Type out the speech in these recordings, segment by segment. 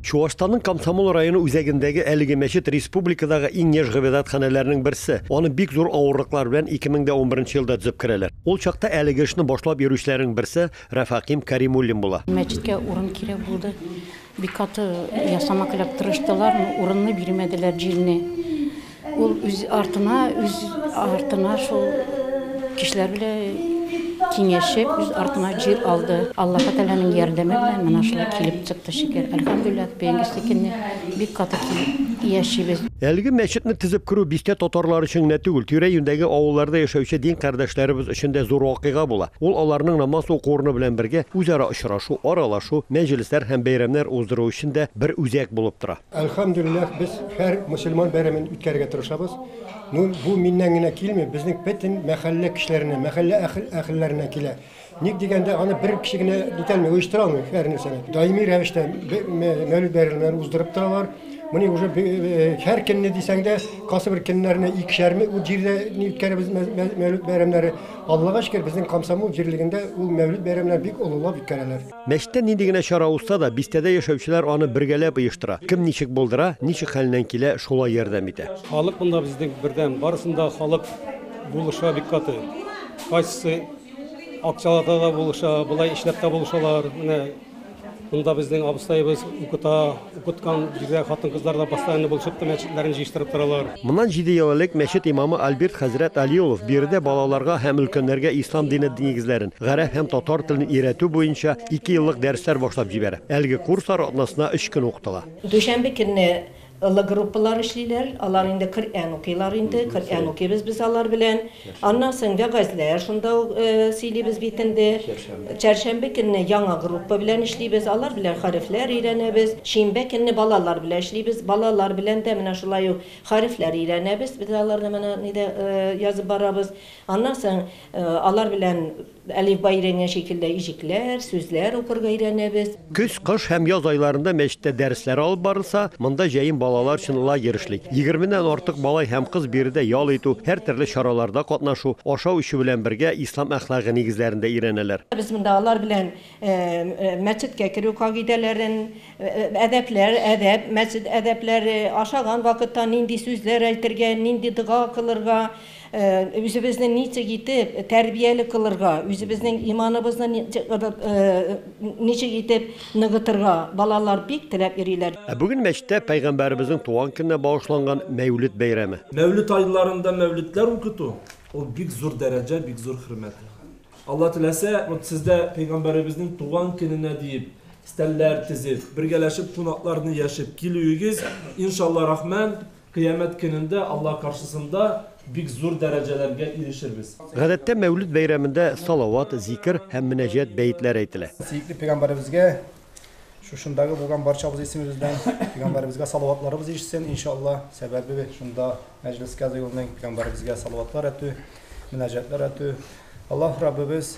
Чуашстанның Комсомол районы үзәгендәге әлеге мәчет республикадагы иң яшь гыйбадәтханәләрнең берсе. Аны бик зур авырлыклар белән 2011 елда төзеп керәләр. Ул чакта әлеге эшне башлап йөрүчеләрнең берсе Рәфәкыйм Кәримуллин була. Мәчеткә урын кирәк булды. Бик каты ясамак эләк тырыштылар, урынны бирмәделәр, җилне. Ул үз артына, үз артына шул кешеләр белән киңәшеп, үз артына җир алды. Аллаһы Тәгаләнең ярдәме белән менә шулай килеп чыкты, шөкер. Әлхәмдүлилләһ, бүгенге степеньне бик каты килеп яшибез. Әлеге мәчетне төзеп керү бистә татарлары өчен генә түгел, тирә-юньдәге авылларда яшәүче дин кардәшләребез өчен дә зур вакыйга була. Ул аларның намаз уку урыны белән бергә, үзара очрашу, аралашу, мәҗлесләр һәм бәйрәмнәр уздыру өчен дә бер үзәк булып тора. Әлхәмдүлилләһ, без һәр мөселман бәйрәмен үткәрергә тырышабыз. Ну, бу миннән генә килми, безнең бөтен мәхәллә кешеләренә, мәхәллә әхел әхелләренә килә. Ник дигәндә, аны бер кеше генә итәлми, оештыра алмый һәр нәрсәне. Даими рәвештә мәүлид бәйрәмнәрен уздырып торалар. Моны уже һәр көнне дисәң дә, кайсы бер көннәрне икешәрме ул җирдә ни үткәрәбез мәүлид бәйрәмнәре. Аллага шөкер, безнең комсомол җирлегендә ул мәүлид бәйрәмнәре бик олылап үткәрәләр. Мәчеттә нинди генә чара узса да, бистәдә яшәүчеләр аны бергәләп оештыра. Кем ничек булдыра, ничек хәленнән килә, шулай ярдәм итә. Халык монда безнең бердәм. Барысын да халык булыша бик каты. Кайсысы акчалата да булыша, болай эшләп тә булышалар. Менә монда безнең абыстаебыз укыта. Укыткан җирдә хатын-кызлар да постоянно булышып та мәчетләрен җыештырып торалар. Моннан җиде ел элек мәчет имамы Альберт хәзрәт Али Улов биредә балаларга һәм өлкәннәргә ислам дине нигезләрен, гарәп һәм татар телен өйрәтү буенча ике еллык дәресләр башлап җибәрә. Әлеге курслар атнасына өч көн укытыла. Дүшәмбе көнне олы группалар эшлиләр. Алар инде Коръән укыйлар инде. Коръән укыйбыз без алар белән. Аннан соң вәгазьләр шунда ук сөйлибез бит инде. Чәршәмбе көнне яңа группа белән эшлибез, алар белән хәрефләр өйрәнәбез. Шимбә көнне балалар белән эшлибез, балалар белән дә менә шулай ук хәрефләр өйрәнәбез, без аларны менә нидә язып барабыз. Аннан соң алар белән Әлифба өйрәнгән шикелле иҗекләр, сүзләр укырга өйрәнәбез. Көз, кыш һәм яз айларында мәчеттә дәресләр алып барылса, монда җәен балалар өчен лагерь эшли. Егерменнән артык малай һәм кыз биредә ял итү, һәртөрле чараларда катнашу, ашау-эчү белән бергә ислам әхлагы нигезләрен дә өйрәнәләр. Без монда алар белән мәчеткә керү кагыйдәләрен, әдәпләр, әдәп, мәчет әдәпләре, ашаган вакытта нинди сүзләр әйтергә, нинди дога кылырга, Үзебезне ничек итеп тәрбияле кылырга, үзебезнең иманыбызны ничек итеп ныгытырга, балалар бик теләп йөриләр. Ә бүген мәчеттә Пәйгамбәребезнең туган көненә багышланган Мәүлет бәйрәме. Мәүлет айларында мәүлетләр укыту, ул бик зур дәрәҗә, бик зур хөрмәт. Алла теләсә, вот сез дә Пәйгамбәребезнең туган көненә диеп стәлләр тезеп, бергәләшеп кунакларны яшеп килүегез, иншалла рахмән, Кыямәт көнендә Алла каршысында бик зур дәрәҗәләргә ирешербез. Гадәттә, Мәүлид бәйрәмендә салават, зикер һәм мөнәҗәт бәетләре әйтелә. Сөекле пәйгамбәребезгә, шушындагы булган барчабыз исемебез белән пәйгамбәребезгә салаватларыбыз ирешсен, ин ша Алла, сәбәбе шунда мәҗлескә җыелу, пәйгамбәребезгә салаватлар әтү, мөнәҗәтләр әтү. Аллаһ Раббыбыз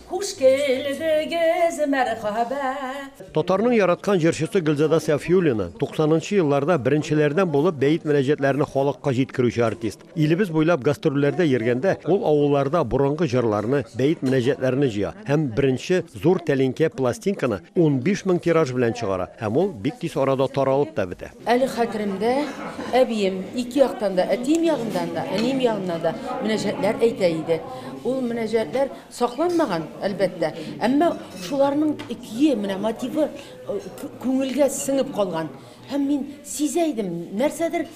Хуш килдегез, мәрхәбә! Татарның яраткан җырчысы Гөлзада Сәфиуллина, 90 нчы елларда беренчеләрдән булып бәет мөнәҗәтләрне халыкка җиткерүче артист. Илебез буйлап гастрольләрдә йөргәндә, ул авылларда борынгы җырларны, бәет мөнәҗәтләрне җыя һәм беренче зур тәлинкә пластинканы 15 мең тираж белән чыгара, һәм ул бик тиз арада таралып та бетә. Әле хәтеремдә, әбием, ике яктан да, әтием ягыннан да, әнием ягыннан да мөнәҗәтләр әйтә иде. Ул мөнәҗәтләр. Сакланмаган, әлбәттә, әмма шуларның икие менә мотивы күңелгә сеңеп калган. Һәм мин сизә идем, нәрсәдер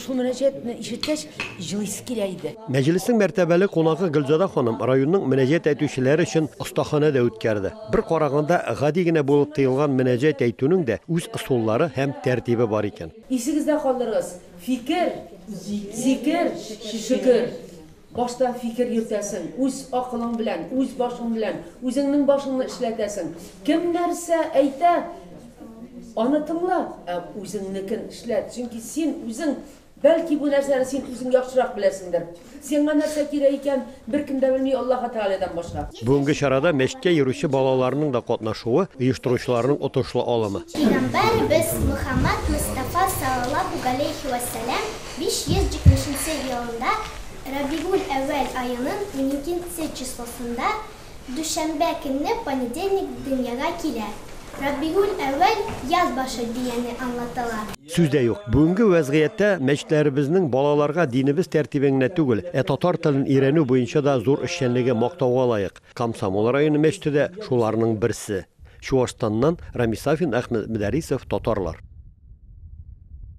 шул мөнәҗәтне ишеткәч, җылыйсы килә иде. Мәҗлеснең мәртәбәле кунагы Гөлзада ханым районның мөнәҗәт әйтүчеләре өчен остаханә дә үткәрде. Бер караганда, гади генә булып тоелган мөнәҗәт әйтүнең дә үз ысуллары һәм тәртибе бар икән. Исегездә калдырыгыз, фикер, зикер, шөкер. Башта фикер йөртәсең, үз акылың белән, үз башың белән, үзеңнең башыңны эшләтәсең. Кем нәрсә әйтә, аны тыңла, ә үзеңнекен эшләт, чөнки син үзең, бәлки бу нәрсәне син үзең яхшырак беләсеңдер. Сиңа нәрсә кирәк икән, беркем дә белми Аллаһы Тәгаләдән башка. Бүгенге чарада мәчеткә йөрүче балаларның да катнашуы, оештыручыларның отышлы алымы. Пәйгамбәребез Мөхәммәд Мостафа салаллаһу галәйһи вәссәлам 570 нче елында Рабигуль-әүвәл аеның уникенче числосында, дүшәмбә көнне понедельник дөньяга килә. Рабигуль-әүвәл, яз башы, дигәне аңлатыла. Сүз дә юк, бүгенге вәзгыятьтә мәчетләребезнең балаларга динебез тәртибен генә түгел, ә татар телен өйрәнү буенча да зур эшчәнлеге мактауга лаек. Комсомол районы мәчете дә шуларның берсе. Чуашстаннан Рамис Сафин, Әхмәт Мөдәрисов, Татарлар.